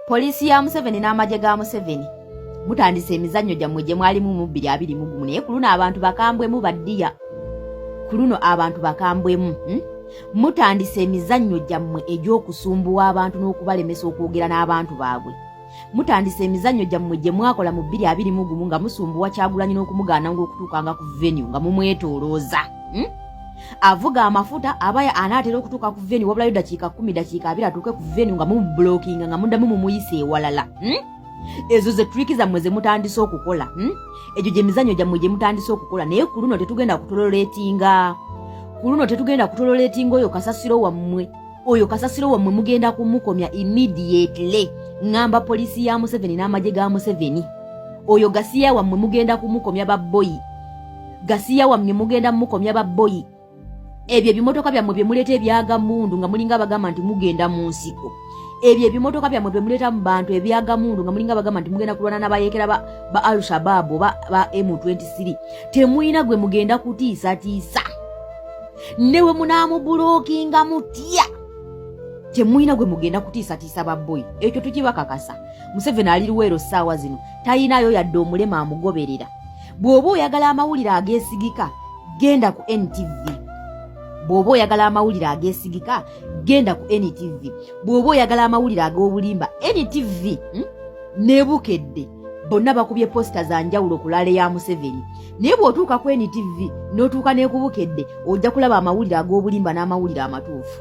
poliisi ya museveni n'amagye ga museveni mutandise emizannyo gyammwe gye mwalimu mu bbiri abiri mu gumu naye ku luno abantu bakambwemu baddiya ku luno abantu bakambwemu hmm? mutandise emizannyo gyammwe egy'okusumbuwa abantu n'okubalemesa okwogera n'abantu baabwe mutandise emizannyo gyammwe gye mwakola mu bbiri abiri mu gumu nga musumbuwa kyagulanyi n'okumugaana ng'okutuukanga ku venue nga mumwetoolooza hmm? avuga amafuta abaya anaatera okutuuka ku veni wabulayo dakiika kumi dakiika abiri atuuke ku veni nga mumubulokinga nga mudamu mumuyisa ewalala hmm? ezo ze triki zammwe ze mutandise okukola hmm? egyo gye mizanyo gyammwe gye mutandise okukola naye ku luno tetugenda kutololetinga ku luno tetugenda kutololetinga oyo kasasiro wammwe oyo kasasiro wammwe mugenda kumukomya immediately ngamba poliisi ya museveni n'amagye ga museveni oyo gasiya wammwe mugenda kumukomya baboyi gasiya wamye mugenda mukomya ba boyi ebyo ebimotoka byammwe bye muleeta ebyaga mundu nga mulinga abagamba nti mugenda mu nsiko ebyo ebimotoka byammwe bye muleeta mu bantu ebyaga mundu nga mulinga abagamba nti mugenda kulwana nabayekera ba, ba al shabab oba ba m23 temulina gwe mugenda kutiisatiisa newe munaamubulokinga mutya temulina gwe mugenda kutiisatiisa babboyi ekyo tukibakakasa museveni aliriweero ssaawa zino talinayo yadde omulema amugoberera bw'oba oyagala amawulire ageesigika genda ku ntv bw'oba oyagala amawulire ageesigika genda ku ntv bw'oba oyagala amawulire ag'obulimba ntv hmm? nebukedde bonna bakubye posita za njawulo ku laale ya museveni naye bw'otuuka ku ntv n'otuuka n'ekubukedde ojja kulaba amawulire ag'obulimba n'amawulire amatuufu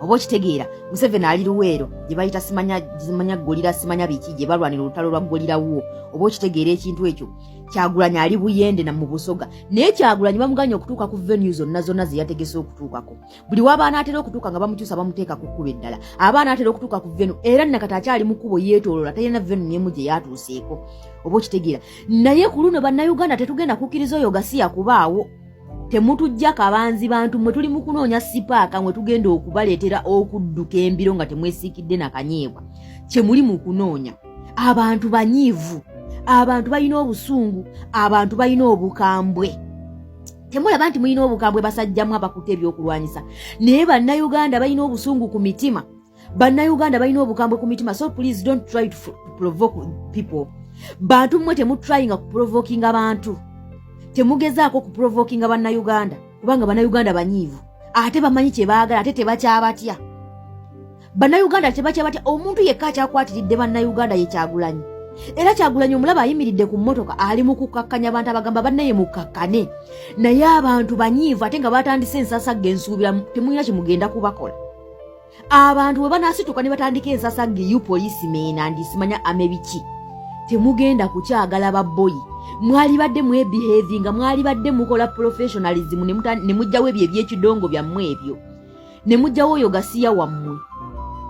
oba okitegeera museveni ali luweero gye bayita simanya simanya golira simanya biki gye balwanira olutalo lwa golira wuwo oba okitegeera ekintu ekyo kyagulanyi ali buyende na mu busoga naye kyagulanyi bamuganye okutuuka ku venue zonna zonna ze yategese okutuukako buli w'abaana atera okutuuka nga bamukyusa bamuteeka ku kkuba eddala abaana atera okutuuka ku venu era nakati akyali mu kkubo yeetoolola talina venu nemu gye yatuuseeko oba okitegeera naye ku luno bannayuganda tetugenda kukkiriza oyo gasiya kubaawo temutujja kabanzi bantu mwe tuli mu kunoonya sipaaka mwe tugenda okubaleetera okudduka embiro nga temwesiikidde na kanyeebwa kye muli mu kunoonya abantu banyiivu abantu balina obusungu abantu balina obukambwe temulaba nti mulina obukambwe basajjamu abakuta ebyokulwanyisa naye bannayuganda balina obusungu ku mitima bannayuganda balina obukambwe ku mitima so please don't try to provoke people bantu mmwe temutrayinga kuprovokinga abantu temugezaako okuprovokinga bannayuganda kubanga bannayuganda banyiivu ate bamanyi kye baagala ate tebakyabatya bannayuganda tebakyabatya omuntu yekka akyakwatiridde bannayuganda ye kyagulanyi era kyagulanyi omulaba ayimiridde ku mmotoka ali mu kukkakkanya abantu abagamba bannaye mukkakkane naye abantu banyiivu ate nga batandise ensasagga ensuubira temulina kye mugenda kubakola abantu bwe banaasituka ne batandika ensasa ngeyu poliisi meena ndisimanya amebiki temugenda kukyagala baboyi mwalibadde mwebihevi nga mwalibadde mukola professionalism ne mujjawo ebyo ebyekidongo byammwe ebyo ne mujjawo oyo gasiya wammwe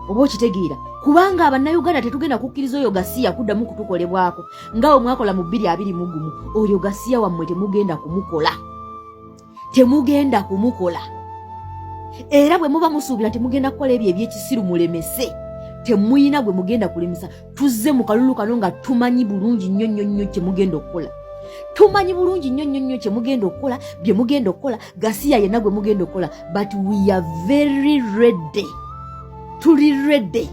oba okitegeera kubanga abannayuganda tetugenda kukkiriza oyo gasiya kuddamu kutukolebwako nga we mwakola mu bbiri abiri mugumu oyo gasiya wammwe temugenda kumukola temugenda kumukola era bwe muba musuubira temugenda kukola ebyo ebyekisiru mulemese temuyina gwe mugenda kulemesa tuzze mu kalulu kano nga tumanyi bulungi nnyo nnyo nnyo kyemugenda okukola tumanyi bulungi nnyo nnyo nnyo kyemugenda okukola bye mugenda okukola gasiya yenna gwe mugenda okukola but we are very ready tuli ready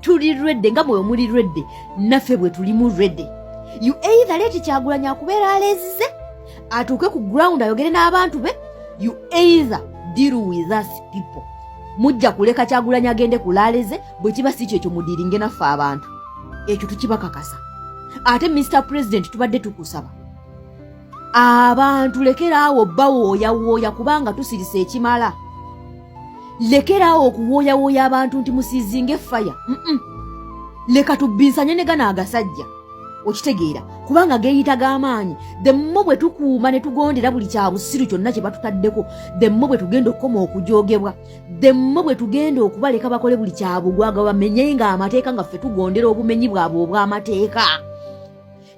tuli ready nga mwewe muli ready naffe bwe tulimu ready you either leti kyagulanyi akubeera alezize atuuke ku ground ayogere n'abantu be you either deal with us people mujja kuleka kyagulanyi agende ku laale ze bwe kiba si kyekyo mudiringe naffe abantu ekyo tukibakakasa ate mr president tubadde tukusaba abantu lekeraawo bawooyawooya kubanga tusirisa ekimala lekeraawo okuwooyawooya abantu nti musizinge faya leka tubbinsanye ne gano agasajja okitegeera kubanga geeyita g'amaanyi demmo bwe tukuuma ne tugondera buli kya busiru kyonna kye batutaddeko demmo bwe tugenda okukoma okujoogebwa demmo bwe tugenda okubaleka bakole buli kya bugwaga bamenye nga amateeka nga ffe tugondera obumenyi bwabwe obw'amateeka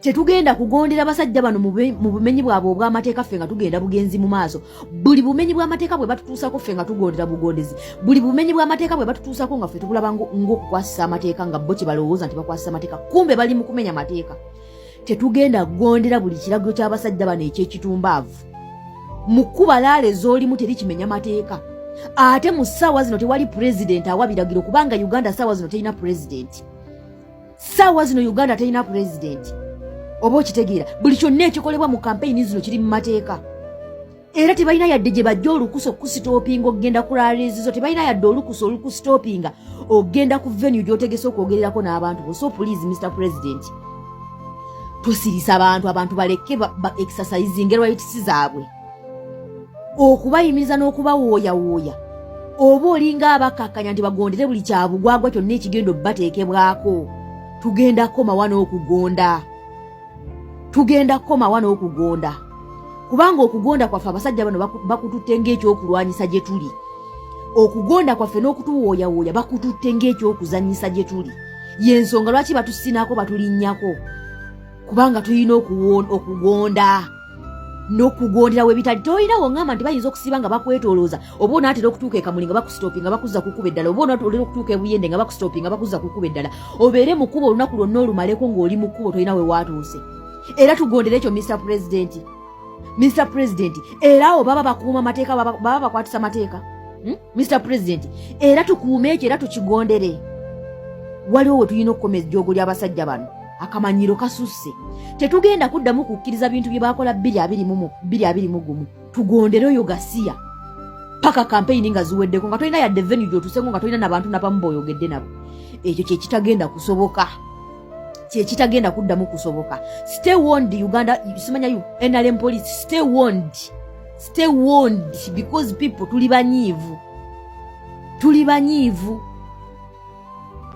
tetugenda kugondera basajja bano mu bumenyi bwabwe obw'amateeka ffe nga tugenda bugenzi mu maaso buli bumenyi bw'amateeka bwe batutuusako ffe nga tugondera bugondezi buli bumenyi bw'amateeka bwe batutuusako nga ffe tubulaba ng'okukwasisa amateeka nga bo kye balowooza nti bakwasisa amateeka kumbe bali mu kumenya amateeka tetugenda kugondera buli kiragiro ky'abasajja bano eky'ekitumbaavu mu kkuba laala ez'olimu teri kimenya mateeka ate mu ssaawa zino tewali pulezidenti awa biragiro kubanga uganda ssaawa zino terina pulezidenti saawa zino uganda terina pulezidenti oba okitegeera buli kyonna ekikolebwa mu kampeyini zino kiri mu mateeka era tebalina yadde gye bajja olukusa okusitoopinga okugenda ku lalezizo tebalina yadde olukusa olukusitoopinga okugenda ku venue gyotegese okwogererako n'abantu bo so please mr president tosirisa abantu abantu balekke exercising rights zaabwe okubayimiza n'okubawooyawooya oba olinga abakkakkanya nti bagondere buli kyabugwagwa kyonna ekigenda obubateekebwako tugenda kukomawa n'okugonda tugenda kukomawa n'okugonda kubanga okugonda kwaffe abasajja bano bakututte ng'ekyokulwanyisa gye tuli okugonda kwaffe n'okutuwooyawooya bakututte ng'ekyokuzannyisa gye tuli y'ensonga lwaki batusinaako batulinnyako kubanga tulina okugonda nokugondera webitali tolina wongamba nti bayinza okusiba nga bakwetolooza oba onatera okutuuka ekamuli nga bakustopi nga bakuza kukuba eddala oba onatera okutuuka ebuyende nga bakustopi nga bakuza kukuba eddala obeere mukuba olunaku lwonna olumaleko ngaoli mukubo tolina wewatuuse era tugondere ekyo mr president mr president era awo baba bakuuma mateeka baba bakwatisa mateeka hmm? mr president era tukuume ekyo era tukigondere waliwo we tulina okukoma ejjoogo ly'abasajja bano akamanyiro kasusse tetugenda kuddamu kukkiriza bintu bye baakola bbiri abiri mumu bbiri abiri mu gumu tugondere oyo gasiya paka kampeyini nga ziweddeko nga tolina yadde venu gyotusengo nga tolina nabantu nabamu boyogedde nabo ekyo kyekitagenda kusoboka kyekitagenda kuddamu kusoboka stay wond uganda simanya nrm police stay wond stay warned because people tuli banyiivu tuli banyiivu